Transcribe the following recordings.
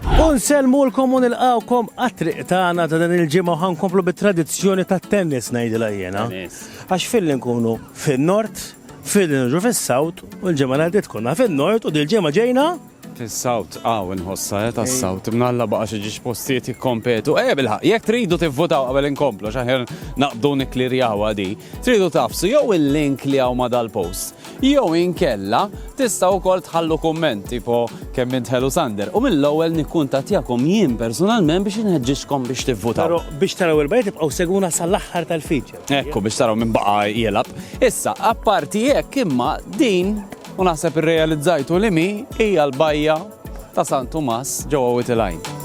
U nsellmulkom u nilqgħukom għat-triq tagħna ta' din il-ġimgħa u ħankomplu bit-tradizzjoni tat-tennis ngħidilha jiena. Għax filli nkunu fin-Nord, filli niġu fis-South u l-ġimgħa li għaddiet konna fin-Nord u dil-ġimgħa ġejna Fis-South, aw inħossha eh tas-South, imnalla baqa' xi ġiex postijiet jikkompetu. Ejja bilħaq, jekk tridu tivvutaw qabel inkomplu x'aħjar naqbdu nikklirjawha di. Tridu tafsu jew il-link li hawn ma' dal-post Jew inkella tistgħu wkoll tħallu kumment tipo kemm int ħelu Sander u mill-ewwel nikkuntattjakom jien personalment biex inħeġġiġkom biex tivvutaw. Però biex taraw il-bqija tibqgħu segwuna sal-aħħar tal-feature. Ekku biex taraw min baqa' jilgħab. Issa, apparti hekk imma din u naħseb irrealizzajtu li mi hija l-bajja ta' San Tumas ġewwa Wied il-Għajn.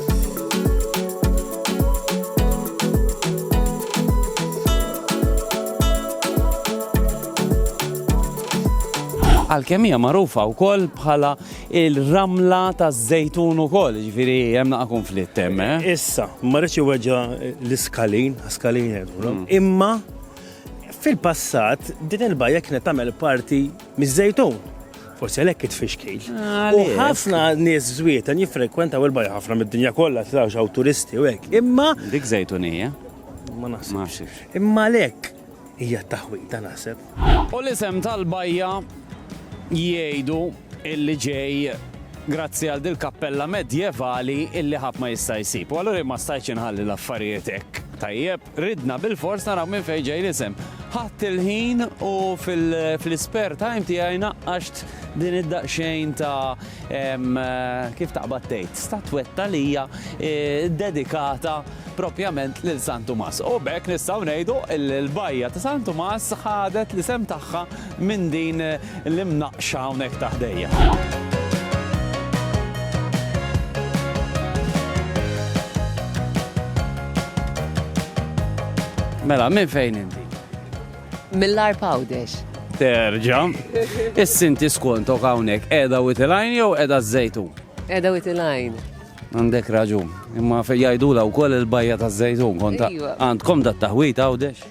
għalkemm hija magħrufa wkoll bħala il-ramla taż-żejtun ukoll, ġifieri hemm naqa' konflitt hemm. Eh? Issa, ma rridx iweġġa l-iskalin, skalin mm. imma fil-passat din il-bajja kienet tagħmel parti Miż-Żejtun. Forsi għalhekk it-tfixkil. U ħafna nies żwieten jiffrekwentaw il-bajja ħafna mid-dinja kollha trawx hawn turisti u hekk. Imma Dik żejtunija? Ma naħsibx. Imma għalhekk hija t-taħwita naħseb. U l-isem tal-bajja jgħidu illi ġej grazzi għal dil-kappella medjevali illi ħadd ma jista' jsib. U allura jien ma stajtx inħalli l-affarijiet hekk. Tajjeb? Ridna bilfors naraw minn fejn ġej l-isem. Ħadt il-ħin u fl-ispare time tiegħi naqqaxt din id-daqsxejn ta' kif taqbad tgħid statwetta li hija eh, dedikata propjament lil San Tumas. U bekk nistgħu ngħidu l-bajja ta' San Tumas ħadet l-isem tagħha minn din l-imnaqqxa hawnhekk ta' ħdejja. Mela, minn fejn inti? Mill-ar pawdex. Terġa. Is-sinti skontok hawnhekk qiegħda u tilajn jew qiegħda żejtun? Qiegħda u tilajn. Għandek raġun. Imma jgħidula wkoll il-bajja taż-żejtun konta. Għandkom dat taħwit għawdex?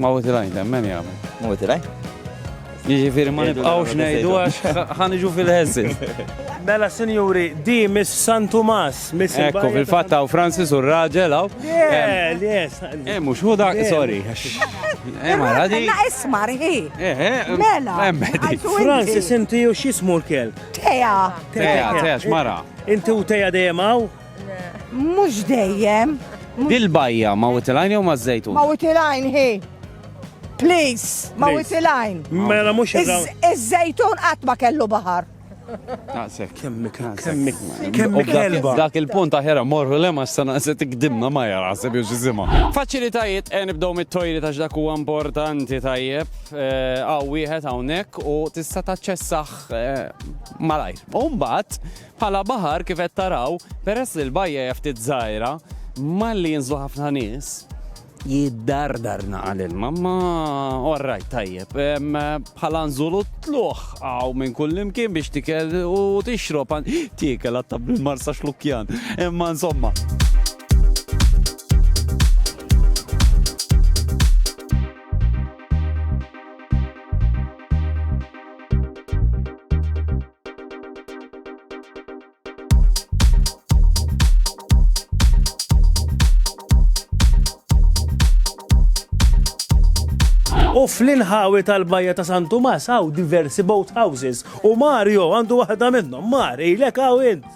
Mawt il-għajn temmen jagħmel. Mawt il-għajn. Jiġifieri ma nibqgħux ngħidu għax ħaniġu fil-ħeżin. Mela sinjuri, di Miss San Tumas, Miss Ekku, fil-fatt hawn Francis u r-raġel hawn. Le, le, Eh, mhux hu dak, sorry. Eh, ma radi. La ismar hi. Eh, eh. Mela. Francis inti u x'ismu l-kelb? Teja. Teja, teja, x'mara. Inti u teja dejjem hawn? Mhux dejjem. Dil-bajja ma' witilajn jew ma' żejtun? Ma' witilajn hi. Please, ma' witilajn. Mela mhux Iż-żejtun qatt ma kellu baħar. Naqsek. Kemmi kemmi. Kemmi kelba. Dak il-punt aħera morru le ma xtana se tikdimna ma jara se biex iżima. Faċilitajiet e nibdew mit-tojli ta' dak huwa importanti tajjeb. Għaw wieħed hawnhekk u tista' taċċessah malajr. U mbagħad Bħala baħar kif qed taraw, peress li l-bajja hija ftit żgħira, malli jinżlu ħafna nies, jiddardar naqa' l-ilma, ma orrajt tajjeb. Bħala nżulu tluħ għaw minn kull imkien biex tikel u tixrob, tikel għatta bil-marsa xlukjan. Imma insomma. U fl-inħawi tal-bajja ta' San Tumas għaw diversi boat houses u Mario għandu waħda minnhom. Mari, lek għaw int.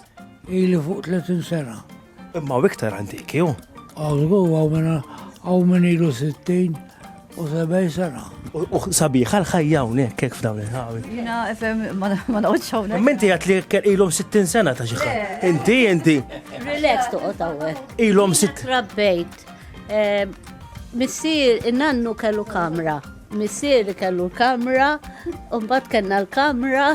Ili fuq 30 sena. Imma hawn iktar antiki hu. Hawn żgur hawn minn hawn minn ilu 60 u 70 sena. U sabiħa l-ħajja hawnhekk hekk f'dawn il-ħawi. Jiena fem ma noqgħodx hawnhekk. Imma inti għad li hekk ilhom 60 sena ta' xi ħadd. Inti inti. Relax toqgħod hawnhekk. Ilhom sitt. Rabbejt. Eh, missier in-nannu kellu kamra. Missier kellu l-kamra, u mbagħad kellna l-kamra.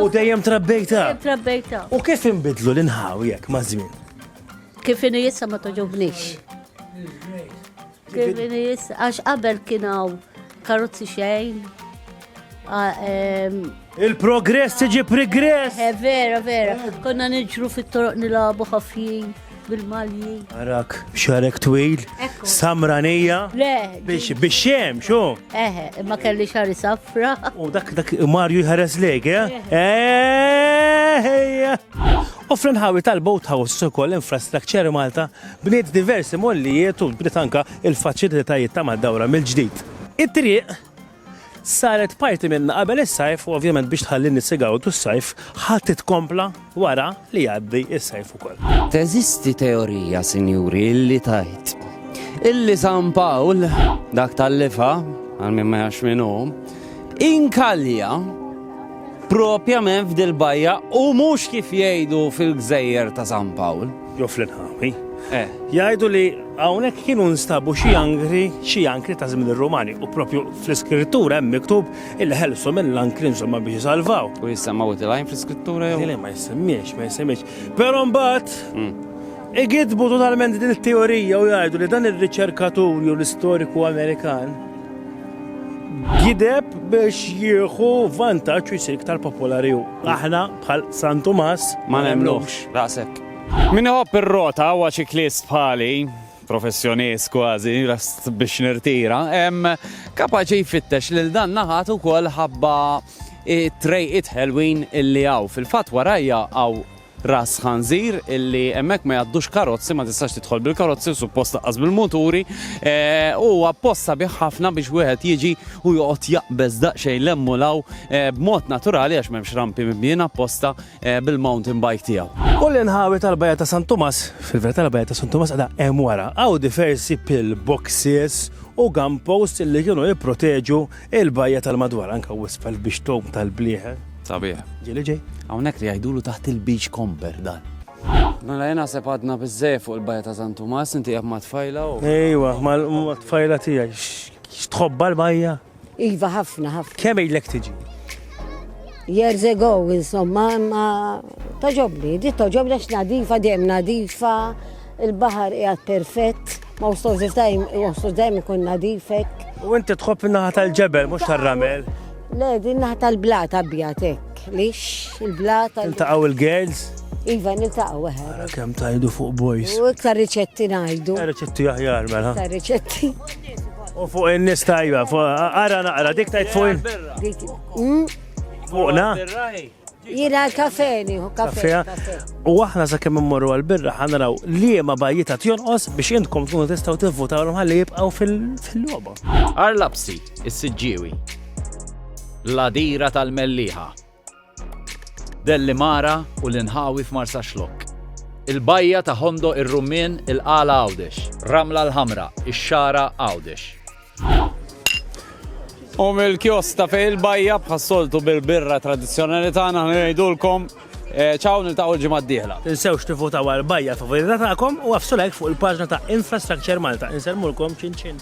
U dejjem trabbejta. Dejjem trabbejta. U kif inbidlu l-inħaw jekk ma' żmien? Kif inhi issa ma toġobniex. Kif inhi issa għax qabel kien hawn karozzi xejn. Il-progress tiġi progress. Eh, vera, vera. Konna niġru fit-toroq nilabu ħafjin. bil-malji. Arak, xarek twil, samranija. Le. Biex, biex xem, xo? Eħe, ma kelli xari safra. U dak, dak, Marju jħares lek, eh? Eħeja. U fl-inħawi tal-boat house ukoll infrastructure Malta bniet diversi mollijiet u bniet anka il-faċilitajiet ta' mad-dawra mill-ġdid. It-triq Saret parti minnha qabel is-sajf u ovvjament biex tħalli n-nies igawdu s-sajf ħa titkompla wara li jgħaddi s-sajf ukoll. Teżisti teorija, sinjuri, li tgħid illi San Pawl, dak tal-lifa, għal min ma jax minnu, inkalja propjament f'dil-bajja u mhux kif jgħidu fil-gżejjer ta' San Pawl. Joffri nħami. Eh. Jgħidu li hawnhekk kienu nstabu xi ankri, xi ankri ta' żmien ir-Rumani u propju fl-iskrittura hemm miktub il-ħelsu mill-ankri insomma biex jisalvaw. U jissemmaw it-lajn fl-iskrittura jew? Le ma jissemmiex, ma jissemmiex. Però mbagħad hmm. igidbu totalment din it-teorija u jgħidu li dan ir-riċerkatur jew l-istoriku Amerikan gideb biex jieħu vantaġġ u jsir iktar popolari. Aħna Bħal San Tumas ma nemmnuhx. Raqsek. Min iħobb ir-rota huwa ċiklist bħali, professjonist kważi, lest biex nirtira, kapaċi jfittex lil dan naħat ukoll ħabba t-trejqiet ħelwin illi hawn. Fil-fatt warajja hawn Ras Ħanżir illi hemmhekk ma jgħaddux karozzi, ma tistax tidħol bil-karozzi u suppost laqqas bil-muturi, u apposta bih ħafna biex wieħed jiġi Hu joqgħod jaqbeż daqsxejn 'l hemm u 'l hawn, b'mod naturali għax m'hemmx rampi mibnijin apposta, bil-mountain bike tiegħu. U l-inħawi tal-Bajja ta' San Tumas, fil-verità l-Bajja ta' San Tumas qiegħda hemm wara, hawn diversi pill boxes u gun posts li kienu jipproteġu l-bajja tal-madwar, anke wisq f'hal biex tgħum tal-blieħen. Sabiħ. Ġieli ġej. Hawnhekk li jgħidulu taħt il-beach comber dan. Mela jien naħseb għadna biżżejjed fuq il-Bajja ta' San Tumas, inti qiegħed mat-tfajla u. Ejwa, mat-tfajla tiegħi. X'tħobba l-bajja? Iva ħafna ħafna. Kemm ilek tiġi? Years ago, insomma, ma toġobni, di toġobni għax nadifa, dejjem nadifa, il-bahar qiegħed perfett, ma wstos dejjem ikun nadifek. U inti tħobb naħa tal-ġebel, mhux tar-ramel. Le, din naħa tal-blat abjad hekk, lix il-blat. Intaqgħu il-girls? Iva, niltaqgħu eħe. Ara kemm tajdu fuq boys. U iktar riċetti ngħidu. Riċetti aħjar mela. Iktar riċetti. U fuq in-nies tajba, ara naqra dik tajt fuq. Dik. Hmm? Fuqna? Jina l-kafeni, u kafeja. U aħna sa' kemm immorru għal-birra ħanraw li ma bajjita tjonqos biex intkom tkunu tistaw tivvutaw l ħalli jibqaw fil-loba. Arlapsi, is-sidġiwi. Ladira tal-melliħa. Delli Mara u l-inħawi f'Marsa Xlok. Il-bajja ta' Hondo ir-Rummien il-Qala Għawdex. Ramla l-Ħamra, ix-Xara Għawdex. U mill-kiosk ta' fej il-bajja bħas-soltu bil-birra tradizzjonali tagħna ħna ngħidulkom ċaw niltaqgħu l-ġimgħa d-dieħla. Tinsewx tivvutaw għal bajja favorita tagħkom u għaffsu like fuq il-paġna ta' Infrastructure Malta. Insellmulkom, ċin ċin!